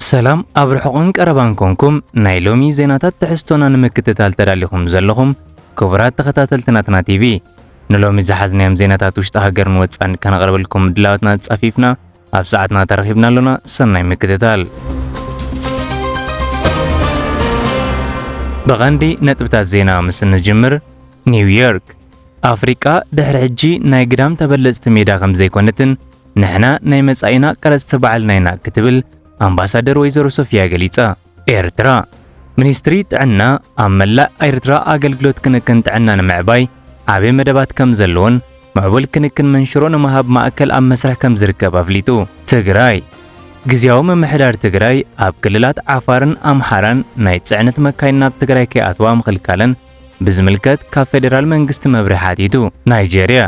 ሰላም ኣብ ርሑቕን ቀረባን ኮንኩም ናይ ሎሚ ዜናታት ትሕዝቶና ንምክትታል ተዳሊኹም ዘለኹም ክቡራት ተኸታተልቲ ናትና ቲቪ ንሎሚ ዝሓዝናዮም ዜናታት ውሽጢ ሃገርን ወፃን ከነቕርበልኩም ምድላዋትና ፃፊፍና ኣብ ሰዓትና ተረኺብና ኣሎና ሰናይ ምክትታል ብቐንዲ ነጥብታት ዜና ምስ እንጅምር ኒውዮርክ ኣፍሪቃ ድሕሪ ሕጂ ናይ ግዳም ተበለፅቲ ሜዳ ከም ዘይኮነትን ንሕና ናይ መጻኢና ቀረጽቲ ባዕልና ኢና ክትብል ኣምባሳደር ወይዘሮ ሶፊያ ገሊጻ። ኤርትራ ሚኒስትሪ ጥዕና ኣብ መላእ ኤርትራ ኣገልግሎት ክንክን ጥዕና ንምዕባይ ዓቢ መደባት ከምዘለዎን ምዕቡል ክንክን መንሽሮ ንምሃብ ማእከል ኣብ መስርሕ ከምዝርከብ ኣፍሊጡ። ትግራይ ግዝያዊ ምምሕዳር ትግራይ ኣብ ክልላት ዓፋርን ኣምሓራን ናይ ጽዕነት መካይን ናብ ትግራይ ከይኣትዋ ምኽልካለን ብዝምልከት ካብ ፌደራል መንግስቲ መብርሂ ሓቲቱ። ናይጀርያ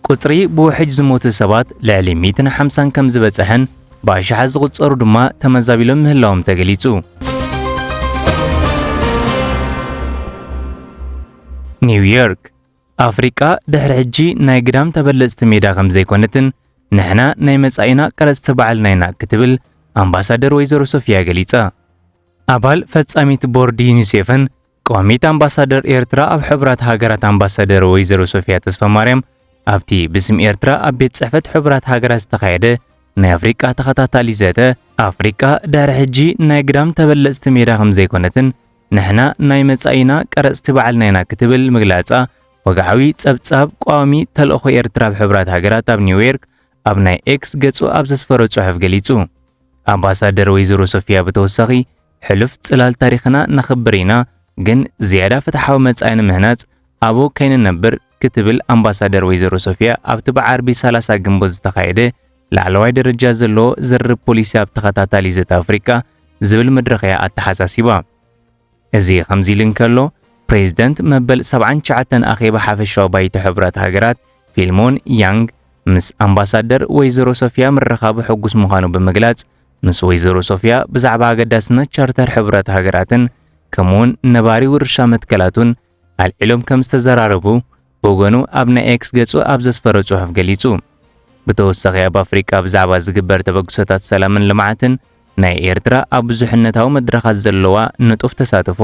ቁጽሪ ብውሕጅ ዝሞቱ ሰባት ልዕሊ ሚእትን ሓምሳን ከም ዝበጽሐን ብኣሽሓት ዝቑጸሩ ድማ ተመዛቢሎም ምህላዎም ተገሊጹ። ኒውዮርክ ኣፍሪቃ ድሕሪ ሕጂ ናይ ግዳም ተበለጽቲ ሜዳ ከም ዘይኮነትን ንሕና ናይ መጻኢና ቀረጽቲ ባዕልና ኢና ክትብል ኣምባሳደር ወይዘሮ ሶፊያ ገሊጻ። ኣባል ፈጻሚት ቦርድ ዩኒሴፍን ቋሚት ኣምባሳደር ኤርትራ ኣብ ሕቡራት ሃገራት ኣምባሳደር ወይዘሮ ሶፊያ ተስፋማርያም ኣብቲ ብስም ኤርትራ ኣብ ቤት ጽሕፈት ሕቡራት ሃገራት ዝተኻየደ ናይ ኣፍሪቃ ተኸታታሊ ዘተ ኣፍሪቃ ድሕሪ ሕጂ ናይ ግዳም ተበለጽቲ ሜዳ ከም ዘይኮነትን ንሕና ናይ መጻኢና ቀረጽቲ ባዕልና ኢና ክትብል ምግላጻ ወግዓዊ ጸብጻብ ቋሚ ተልእኾ ኤርትራ ኣብ ሕብራት ሃገራት ኣብ ኒውዮርክ ኣብ ናይ ኤክስ ገጹ ኣብ ዘስፈሮ ጽሑፍ ገሊጹ። ኣምባሳደር ወይዘሮ ሶፊያ ብተወሳኺ ሕሉፍ ጽላል ታሪኽና ነኽብር ኢና፣ ግን ዝያዳ ፍትሓዊ መጻኢ ንምህናጽ ኣብኡ ከይንነብር ክትብል ኣምባሳደር ወይዘሮ ሶፍያ ኣብቲ ብዓርቢ ሰላሳ ግንቦት ዝተኻየደ ላዕለዋይ ደረጃ ዘለዎ ዝርርብ ፖሊሲ ኣብ ተኸታታሊ ዘተ ኣፍሪቃ ዝብል መድረኽ እያ ኣተሓሳሲባ። እዚ ከምዚ ኢሉ እንከሎ ፕሬዚደንት መበል 79 ኣኼባ ሓፈሻዊ ባይቶ ሕብራት ሃገራት ፊልሞን ያንግ ምስ ኣምባሳደር ወይዘሮ ሶፊያ ምርኻቡ ሕጉስ ምዃኑ ብምግላጽ ምስ ወይዘሮ ሶፍያ ብዛዕባ ኣገዳስነት ቻርተር ሕብረት ሃገራትን ከምኡውን ነባሪ ውርሻ መትከላቱን ኣልዒሎም ከም ዝተዘራረቡ ብወገኑ ኣብ ናይ ኤክስ ገጹ ኣብ ዘስፈረ ጽሑፍ ገሊጹ። ብተወሳኺ ኣብ ኣፍሪቃ ብዛዕባ ዝግበር ተበግሶታት ሰላምን ልምዓትን ናይ ኤርትራ ኣብ ብዙሕነታዊ መድረኻት ዘለዋ ንጡፍ ተሳትፎ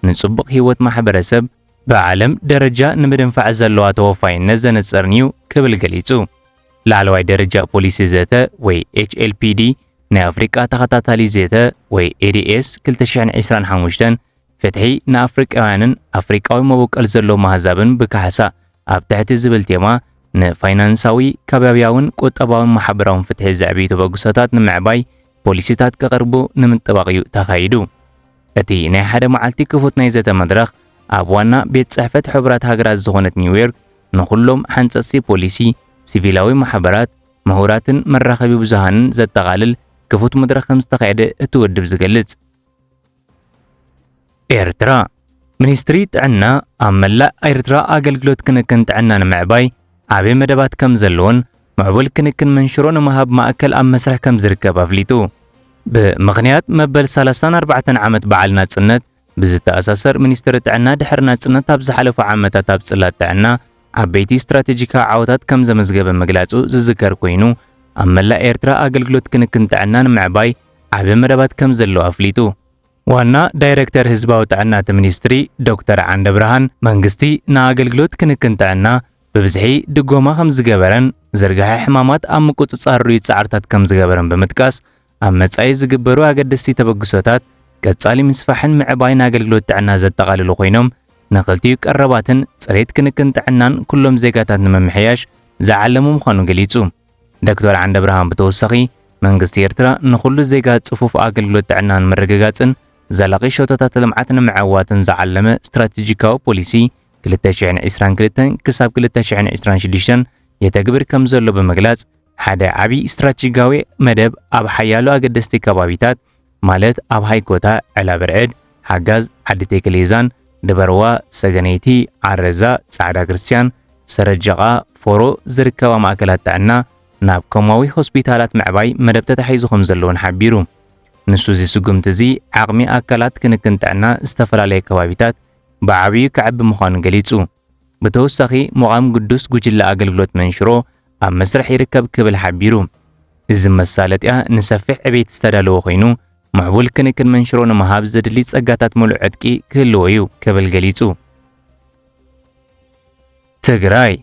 ንጽቡቕ ህይወት ማሕበረሰብ ብዓለም ደረጃ ንምድንፋዕ ዘለዋ ተወፋይነት ዘነጽርን'ዩ ክብል ገሊጹ። ላዕለዋይ ደረጃ ፖሊሲ ዘተ ወይ HLPD ናይ ኣፍሪቃ ተኸታታሊ ዘተ ወይ ADS 2025 ፍትሒ ንኣፍሪቃውያንን ኣፍሪቃዊ መበቀል ዘለዎም ኣህዛብን ብካሕሳ ኣብ ትሕቲ ዝብል ቴማ ንፋይናንሳዊ፣ ከባብያውን ቁጠባውን ማሕበራውን ፍትሒ ዘዕብዩ ተበግሶታት ንምዕባይ ፖሊሲታት ከቐርቡ ንምጥባቕ እዩ ተኻይዱ። እቲ ናይ ሓደ መዓልቲ ክፉት ናይ ዘተ መድረኽ ኣብ ዋና ቤት ጽሕፈት ሕቡራት ሃገራት ዝኾነት ኒውዮርክ ንኹሎም ሓንጸጽቲ ፖሊሲ፣ ሲቪላዊ ማሕበራት፣ ምሁራትን መራኸቢ ብዙሃንን ዘጠቓልል ክፉት መድረኽ ከም ዝተኻየደ እቲ ውድብ ዝገልጽ። ኤርትራ ሚኒስትሪ ጥዕና ኣብ መላእ ኤርትራ ኣገልግሎት ክንክን ጥዕና ንምዕባይ ዓብዪ መደባት ከም ዘለዎን ምዕቡል ክንክን መንሽሮ ንምሃብ ማእከል ኣብ መስርሕ ከም ዝርከብ ኣፍሊጡ። ብምኽንያት መበል 34 ዓመት በዓል ናጽነት ብዝተኣሳሰር ሚኒስትሪ ጥዕና ድሕሪ ናጽነት ኣብ ዝሓለፉ ዓመታት ኣብ ጽላት ጥዕና ዓበይቲ ስትራቴጂካዊ ዓወታት ከም ዘመዝገበ ምግላጹ ዝዝከር ኮይኑ ኣብ መላእ ኤርትራ ኣገልግሎት ክንክን ጥዕና ንምዕባይ ዓቢ መደባት ከም ዘለዎ ኣፍሊጡ። ዋና ዳይረክተር ህዝባዊ ጥዕና እቲ ሚኒስትሪ ዶክተር ዓንደብርሃን፣ መንግስቲ ንኣገልግሎት ክንክን ጥዕና ብብዝሒ ድጎማ ከም ዝገበረን ዝርግሐ ሕማማት ኣብ ምቁጽጻር ርኡይ ጻዕርታት ከም ዝገበረን ብምጥቃስ፣ ኣብ መጻኢ ዝግበሩ ኣገደስቲ ተበግሶታት ቀጻሊ ምስፋሕን ምዕባይን ኣገልግሎት ጥዕና ዘጠቓልሉ ኮይኖም ንክልቲኡ ቀረባትን ጽሬት ክንክን ጥዕናን ኩሎም ዜጋታት ንምምሕያሽ ዝዓለሙ ምዃኑ ገሊጹ። ዶክተር ዓንደብርሃን ብተወሳኺ፣ መንግስቲ ኤርትራ ንኹሉ ዜጋ ጽፉፍ ኣገልግሎት ጥዕና ንምርግጋጽን ዘላቒ ሸቶታት ልምዓት ንምዕዋትን ዝዓለመ ስትራቴጂካዊ ፖሊሲ ክልተ ሽሕን ዕስራን ክልተን ክሳብ ክልተ ሽሕን ዕስራን ሽዱሽተን የተግብር ከምዘሎ ብምግላጽ፣ ሓደ ዓቢ ስትራቴጂካዊ መደብ ኣብ ሓያሎ ኣገደስቲ ከባቢታት ማለት ኣብ ሃይኮታ፣ ዕላብርዕድ፣ ሓጋዝ፣ ዓዲ ቴክሌዛን፣ ድበርዋ፣ ሰገነይቲ፣ ዓረዛ፣ ጻዕዳ ክርስትያን፣ ሰረጀቓ፣ ፎሮ ዝርከባ ማእከላት ጥዕና ናብ ኮማዊ ሆስፒታላት ምዕባይ መደብ ተታሒዙ ከምዘሎ'ውን ሓቢሩ። ንሱ እዚ ስጉምቲ እዚ ዓቕሚ ኣካላት ክንክን ጥዕና ዝተፈላለየ ከባቢታት ብዓብዩ ከዕቢ ምዃኑ ገሊጹ። ብተወሳኺ ምቛም ግዱስ ጉጅለ ኣገልግሎት መንሽሮ ኣብ መስርሕ ይርከብ ክብል ሓቢሩ። እዚ መሳለጥያ ንሰፊሕ ዕቤት ዝተዳለወ ኮይኑ ምዕቡል ክንክን መንሽሮ ንምሃብ ዘድሊ ጸጋታት ምሉእ ዕጥቂ ክህልዎ እዩ ክብል ገሊጹ። ትግራይ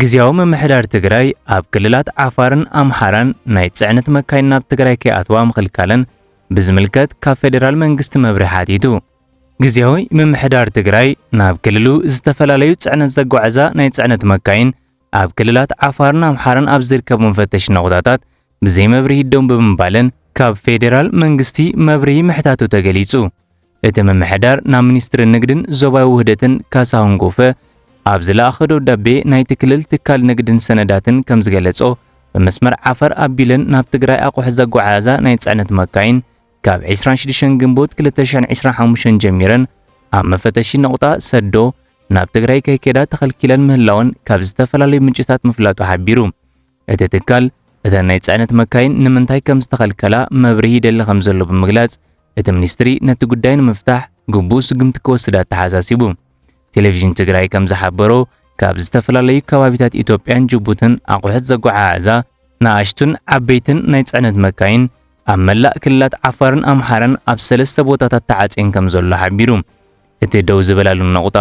ግዜያዊ ምምሕዳር ትግራይ ኣብ ክልላት ዓፋርን ኣምሓራን ናይ ጽዕነት መካይን ናብ ትግራይ ከይኣትዋ ምኽልካለን ብዝምልከት ካብ ፌዴራል መንግስቲ መብርሒ ሓቲቱ። ግዜያዊ ምምሕዳር ትግራይ ናብ ክልሉ ዝተፈላለዩ ጽዕነት ዘጓዕዛ ናይ ጽዕነት መካይን ኣብ ክልላት ዓፋርን ኣምሓራን ኣብ ዝርከቡ መፈተሺ ነቑጣታት ብዘይ መብርሂ ደው ብምባለን ካብ ፌዴራል መንግስቲ መብርሂ ምሕታቱ ተገሊጹ። እቲ ምምሕዳር ናብ ሚኒስትሪ ንግድን ዞባዊ ውህደትን ካሳሁን ጎፈ ኣብ ዝለኣኸ ደብዳቤ ናይቲ ክልል ትካል ንግድን ሰነዳትን ከም ዝገለጾ ብመስመር ዓፈር ኣቢለን ናብ ትግራይ ኣቑሑት ዘጓዓዕዛ ናይ ጽዕነት መካይን ካብ ዕስራን ሽዱሽተን ግንቦት ክልተ ሽሕን ዕስራን ሓሙሽተን ጀሚረን ኣብ መፈተሺ ነቑጣ ሰዶ ናብ ትግራይ ከይከዳ ተኸልኪለን ምህላወን ካብ ዝተፈላለዩ ምንጭታት ምፍላጡ ሓቢሩ። እቲ ትካል እተን ናይ ጽዕነት መካይን ንምንታይ ከም ዝተኸልከላ መብርሂ ይደሊ ከም ዘሎ ብምግላጽ እቲ ሚኒስትሪ ነቲ ጉዳይ ንምፍታሕ ግቡእ ስጉምቲ ክወስድ ኣተሓሳሲቡ። ቴሌቪዥን ትግራይ ከም ዝሓበሮ ካብ ዝተፈላለዩ ከባቢታት ኢትዮጵያን ጅቡትን ኣቑሑት ዘጓዓዕዛ ንኣሽቱን ዓበይትን ናይ ጽዕነት መካይን ኣብ መላእ ክልላት ዓፋርን ኣምሓራን ኣብ ሰለስተ ቦታታት ተዓጽየን ከም ዘሎ ሓቢሩ። እቲ ደው ዝበላሉ ነቑጣ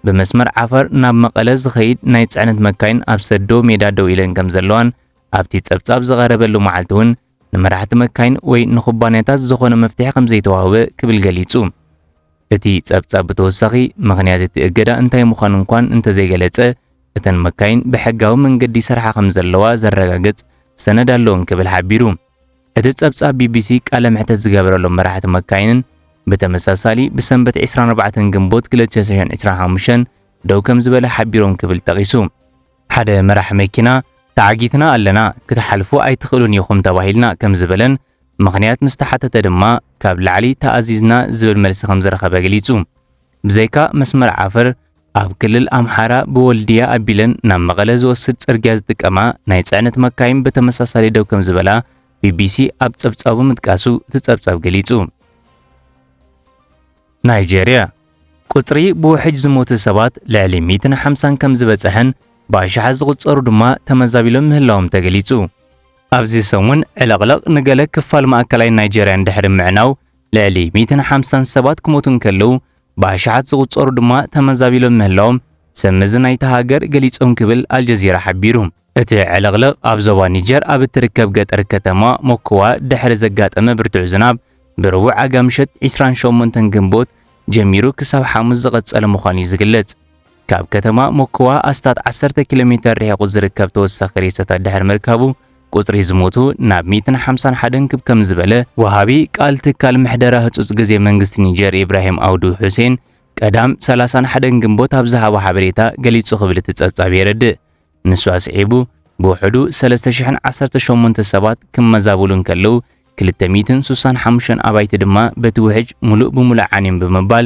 ብመስመር ዓፋር ናብ መቐለ ዝኸይድ ናይ ጽዕነት መካይን ኣብ ሰዶ ሜዳ ደው ኢለን ከም ዘለዋን ኣብቲ ጸብጻብ ዝቐረበሉ መዓልቲ እውን ንመራሕቲ መካይን ወይ ንኩባንያታት ዝኾነ መፍትሒ ከም ዘይተዋህበ ክብል ገሊጹ። እቲ ጸብጻብ ብተወሳኺ ምኽንያት እቲ እገዳ እንታይ ምዃኑ እንኳን እንተዘይገለጸ እተን መካይን ብሕጋዊ መንገዲ ይሰርሓ ከም ዘለዋ ዘረጋግጽ ሰነድ ኣሎ እንክብል ሓቢሩ። እቲ ጸብጻብ ቢቢሲ ቃለ መሕተት ዝገበረሎም መራሕቲ መካይንን ብተመሳሳሊ ብሰንበት 24 ግንቦት 2025 ደው ከም ዝበለ ሓቢሮም ክብል ጠቒሱ። ሓደ መራሕ መኪና ተዓጊትና ኣለና፣ ክትሓልፉ ኣይትኽእሉን ኢኹም ተባሂልና ከም ዝበለን ምኽንያት ምስ ተሓተተ ድማ ካብ ላዕሊ ተኣዚዝና ዝብል መልሲ ከም ዝረኸበ ገሊጹ። ብዘይካ መስመር ዓፈር ኣብ ክልል ኣምሓራ ብወልድያ ኣቢለን ናብ መቐለ ዝወስድ ጽርግያ ዝጥቀማ ናይ ጽዕነት መካይን ብተመሳሳሊ ደው ከም ዝበላ ቢቢሲ ኣብ ጸብጻቡ ምጥቃሱ እቲ ጸብጻብ ገሊጹ። ናይጀርያ ቁጽሪ ብውሕጅ ዝሞቱ ሰባት ልዕሊ 150 ከም ዝበጽሐን ብኣሽሓት ዝቑጸሩ ድማ ተመዛቢሎም ምህላዎም ተገሊጹ። ኣብዚ ሰሙን ዕልቕልቕ ንገለ ክፋል ማእከላይ ናይጀርያን ድሕሪ ምዕናው ልዕሊ ሚእትን ሓምሳን ሰባት ክሞቱ እንከለዉ ብኣሽሓት ዝቑጸሩ ድማ ተመዛቢሎም ምህላዎም ሰብ መዚ ናይታ ሃገር ገሊጾም ክብል ኣልጀዚራ ሓቢሩ። እቲ ዕልቕልቕ ኣብ ዞባ ኒጀር ኣብ እትርከብ ገጠር ከተማ ሞኮዋ ድሕሪ ዘጋጠመ ብርቱዕ ዝናብ ብረቡዕ ኣጋ ምሸት ዕስራን ሸሞንተን ግንቦት ጀሚሩ ክሳብ ሓሙስ ዝቐጸለ ምዃኑ'ዩ ዝግለጽ። ካብ ከተማ ሞክዋ ኣስታት ዓሰርተ ኪሎ ሜተር ርሒቑ ዝርከብ ተወሳኺ ሬሳታት ድሕሪ ምርካቡ፣ ቁጽሪ ዝሞቱ ናብ ሚእትን ሓምሳን ሓደን ክብ ከም ዝበለ፣ ወሃቢ ቃል ትካል ምሕደራ ህጹጽ ግዜ መንግስቲ ኒጀር ኢብራሂም ኣውዱ ሑሴን ቀዳም ሰላሳን ሓደን ግንቦት ኣብ ዝሃቦ ሓበሬታ ገሊጹ ክብል እቲ ጸብጻብ የረድእ። ንሱ ኣስዒቡ፣ ብውሕዱ ሰለስተ ሽሕን ዓሰርተ ሸሞንተ ሰባት ክመዛበሉ እንከለዉ፣ ክልተ ሚእትን ስሳን ሓሙሽተን ኣባይቲ ድማ በቲ ውሕጅ ምሉእ ብምሉእ ዓንዮም ብምባል፣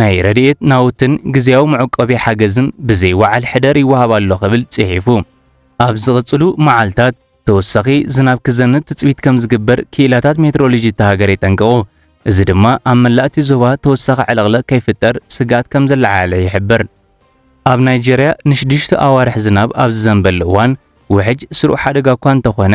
ናይ ረድኤት ናውትን ግዝያዊ መዕቆቢ ሓገዝን ብዘይ ወዓል ሕደር ይወሃብ ኣሎ ክብል ጽሒፉ። ኣብ ዝቕጽሉ መዓልታት ተወሳኺ ዝናብ ክዘንብ ትጽቢት ከም ዝግበር ክኢላታት ሜትሮሎጂ እታ ሃገር የጠንቅቑ። እዚ ድማ ኣብ መላእ እቲ ዞባ ተወሳኺ ዕልቕልቕ ከይፍጠር ስግኣት ከም ዘለዓዓለ ይሕብር። ኣብ ናይጀርያ ንሽዱሽተ ኣዋርሕ ዝናብ ኣብ ዝዘንበሉ እዋን፣ ውሕጅ ስሩዕ ሓደጋ እኳ እንተኾነ፣